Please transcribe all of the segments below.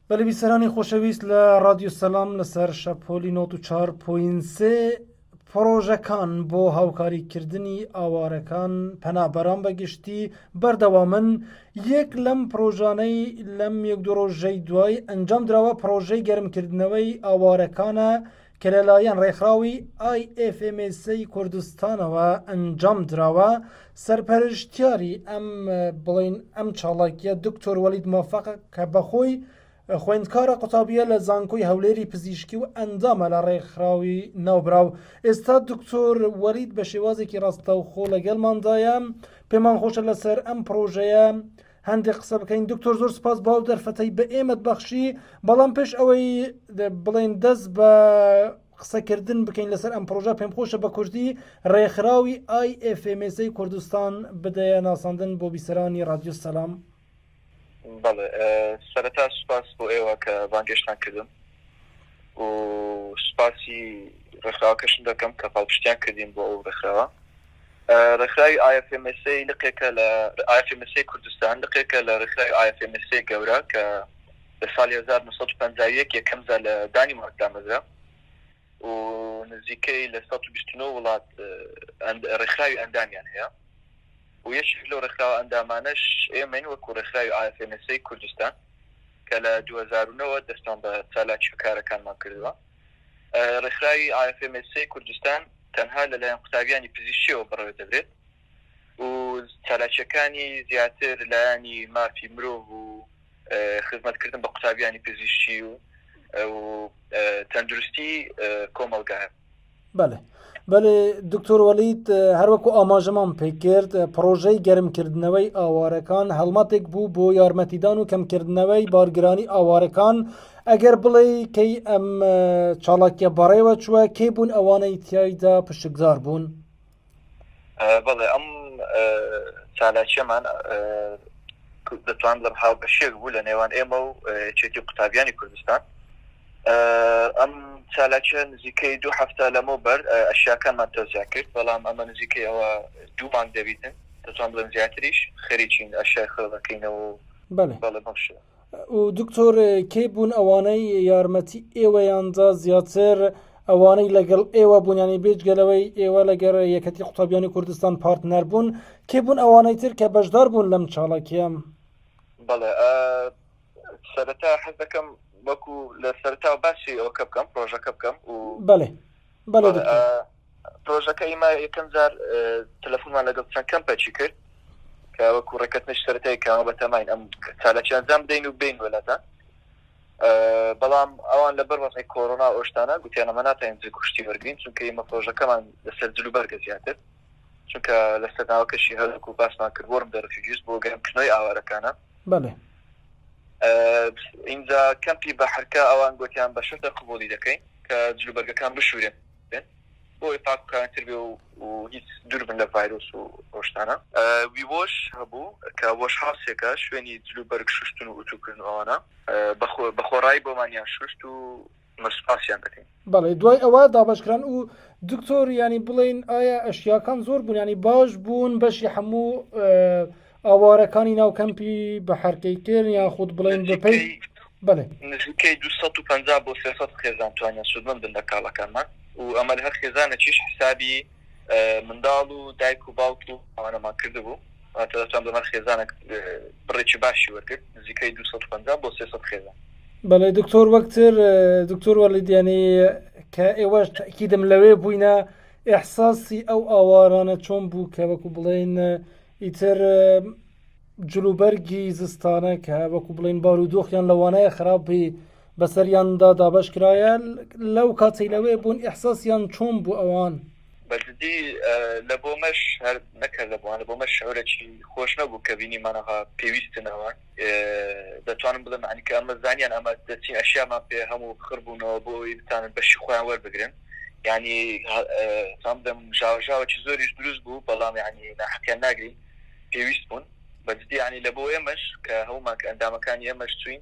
بەلی بیسەرانی خۆشەویست لە ڕادیو سەلام لەسەر شەپۆلی نۆت و چار پوینسێ پڕۆژەکان بۆ هاوکاریکردنی ئاوارەکان پەنابەران بەگشتی بەردەوامن یەک لەم پرۆژانەی لەم یەک دۆڕۆژەی دوای ئەنجام درراوە پرۆژەی گەرمکردنەوەی ئاوارەکانە کە لەلایەن ڕێکخراوی ئای ئێف ئێم ئێسەی کوردستانەوە ئەنجام دراوە سەرپەرشتیاری ئەم بڵین ئەم چاڵاکیە دکتۆر وەلید مۆفق کە بەخۆی خوێندکارە قوتابیە لە زانکۆی هەولێری پزیشکی و ئەندامە لە ڕێکخراوی ناوبراو ئێستا دکتۆر وەلید بە شێوازێکی ڕاستەوخۆ لەگەڵماندایە پێمان خۆشە لەسەر ئەم پرۆژەیە هەندێک قسە بکەین دکتۆر زۆر سپاس باو دەرفەتەی بە ئێمەت بەخشی بەڵام پێش ئەوەی بڵێن دەست بە قسەکردن بکەین لەسەر ئەم پرۆژە پێم خۆشە بە کوردی ڕێکخراوی ئایFMSی کوردستان بدەیە ناساندن بۆ بیسەرانی رادیۆ سەسلام سەرتا سوپاس بۆ ئێوە کە بانگێشتان کردم و سوپاسی ڕێکخراوەکەشم دەکەم کە پاڵپشتیان کردین بۆ ئەو ڕێکخراوە ڕێکخراوی IFMSA لقێکە لە IFMSA کوردستان لقێکە لە ڕێکخراوی IFMSA گەورە کە لە ساڵی هەزار و نۆ سەد و پەنجا و یەک یەکەم جار لە دانیمارک دامەزرا و نزیکەی لە سەد و بیست و نۆ وڵات ڕێکخراوی ئەندامیان هەیە و یەکێک لەو ڕێکخراوە ئەندامانەش ئێمەین وەکوو ڕێکخراوی IFMSA کوردستان کە لە دوو هەزار و نۆ وە دەستمان بە چالاکی و کارەکانمان کردووە. ڕێکخراوی ئایەفێمێسسێی کوردستان تەنها لەلایەن قوتابیانی پزیشکییەوە بەڕێوەدەبرێت و چالاکییەکانی زیاتر لایەنی مافی مرۆڤ و خزمەتکردن بە قوتابیانی پزیشکی و تەندروستی کۆمەڵگایە. بەێ بەێ دکتۆر وەلیت هەروەکو ئاماژەمان پێکرد پرۆژەی گەرمکردنەوەی ئاوارەکان هەڵمەتێک بوو بۆ یارمەتیدان و کەمکردنەوەی بارگرانی ئاوارەکان ئەگەر بڵێ کەی ئەم چاڵاکیە بەڕێوە چووە کەی بوون ئەوانەی تایدا پشکدار بوون. بەڵێ ئەم چالاکیەمان دەتوان بڵێم هاوبەشێک بوو لە نێوان ئێمە و چێتی قوتابیانی کوردستان ئەم چالاکیە نزیکەی دوو هەفتە لەمە بەر ئەشیاکانمان تۆزیا کرد بەڵام ئەمە نزیکەی ئەوە دوو مانگ دەبیتن دەتوان بڵێن زیاتریش خەریکین ئەشای خێڵەکەینەوە بەڵێ بەڵێ بەم شێوە دکتۆر کەی بوون ئەوانەی یارمەتی ئێوەیاندا زیاتر ئەوانەی لەگەڵ ئێوە بوونیانی بێجگەلەوەی ئێوە لەگەر یەکەتی قوتابیانی کوردستان پارتنەر بوون کێ بوون ئەوانەی تر کە بەشدار بوون لەم چاڵکیان بەڵێ سەرەتا حەز دەکەم وەکو لە سەرتا باسی ئەوکە بکەم پرۆژەکە بکەم و بەێ بەڵێ دکتۆر. پرۆژەکە ئیمە یەکەم جار تەلەفونمان لەگەڵ چەند کەمپەچی کرد کە وەکو ڕێکەتنش سەرەتای کەەوە بە تەماین ئەم چالەکی ئەنجام بدەین و بین وەلاتە بەڵام ئەوان لە بەر وەزی کۆرۆنا ئۆشتانە گوتیان ئەمە ناتەین کوشتی وەرگین چونکە ئمە پرۆژەکەمان لەسەر جلو بەرگە زیاتر چونکە لەسەر ناوەکەشی هەلک و باسمان کرد وەرم دەرفیجیست بۆ گەرم کنۆی ئاوارەکانە بەڵێ. ئینجا کەمپی بەحرکە ئەوان گۆتیان بە شەرتێک قبوڵی دەکەین کە جلوبەرگەکان بشورێن بۆوەی پاک و کارنتر بێ و هیچ دور بن لە ڤایرۆس و ئەو شتانە. ویوەش هەبوو کە وەش هاوسێکە شوێنی جلوبەرگ شوشتن و ئوتوکردن و ئەوانە بە خۆڕایی بۆمانیان شوشت و. ئەمە سوپاسیان دەکەین. بەڵێ دوای ئەوە دابەشکران و دکتۆر یانی بڵێن ئایا ئەشیاکان زۆر بوون ینی باش بوون بەشی هەموو ئاوارەکانی ناو کەمپی بە حرکەی کرد یان خود بڵێن بەپی بڵێ نزیکەی 250 بۆ 300 خێزان توانیان سوودمەند بن لە کاڵەکانمان و ئەمە هەر خێزانەکیش حسابی منداڵ و دایک و باوک و ئەوانەمان کردبوو، واتە دەتوان بڵێم خێزانەک بڕێکی باشی وەرگرت، نزیکەی دوو سەد و پەنجا بۆ سێ سەد خێزان. بەڵێ دکتۆر وەکتر دکتۆر وەڵید یانی کە ئێوەش تەکیدم لەوێ بووینە ئەحساسی ئەو ئاوارانە چۆن بوو کە وەکو بڵێن ئیتر جلوبەرگی زستانە کە وەکو بڵێن بارودۆخیان لەوانەیە خراپی بەسەریاندا دابەش کرایە لەو کاتەی لەوێ بوون ئیحساسیان چۆن بوو ئەوان؟ بەجدی لە بۆ مەش هەر نەک هەر لە بۆ هەر بۆ مەش شعورەکی خۆش نەبوو کە بینیمان ئەها پێویستن ئەوان دەتوانم بڵێم یانی کە ئەمە زانیان ئەمە دەچین ئەشیامان پێ هەموو خڕ بوونەوە بۆ ئەوەی بتانن بەشی خۆیان وەربگرن یانی سام دەم ژاوەژاوەکی زۆریش دروست بوو بەڵام یانی ناحەقیان ناگرین پێویست بوون بەجدی یانی لە بۆ ئێمەش کە هەوماک ئەندامەکانی ئێمەش چوین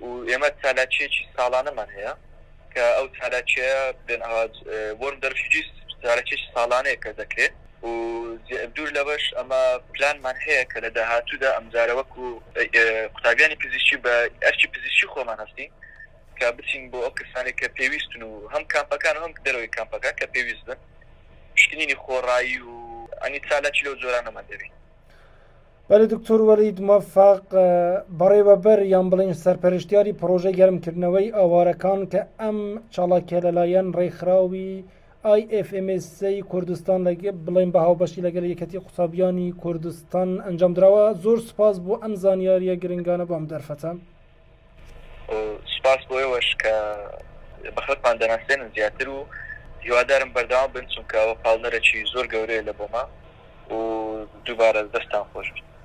و ئێمە چالاکییەکی ساڵانەمان هەیە کە ئەو چالاکییە بێن ئاوات وۆرم دەرفیجیس چالاکییەکی ساڵانەیە کە دەکرێ و دوور لەوەش ئەمە پلانمان هەیە کە لە داهاتوودا ئەمجارە وەکو قوتابیانی پزیشکی بە ئەرکی پزیشکی خۆمان هەستین کە بچین بۆ ئەو کەسانەی کە پێویستن و هەم کامپەکان و هەم دەرەوەی کامپەکان کە پێویست بن پشکنینی خۆڕایی و ئەنی چالاکی لەو جۆرانەمان دەبین. بەلێ دکتۆر وەلید مۆفەق بەڕێوەبەر یان بڵێین سەرپەرشتیاری پڕۆژەی گەرمکردنەوەی ئاوارەکان کە ئەم چاڵاکیە لەلایەن ڕێکخراوی IFMSA کوردستان بڵێن بە هاوبەشی لەگەل یەکەتی قوتابیانی کوردستان ئەنجام درراوە زۆر سپاس بۆ ئەم زانیاریە گرنگانە بۆم دەرفەتە. سوپاس بۆ ئێوەش کە بە خەڵکمان دەناسێنن زیاتر و هیوادارم بەردەوام بن چونکە ئەوە پاڵنەرەکی زۆر گەورەیە لە بۆما و دووبارە دەستان خۆش بێت.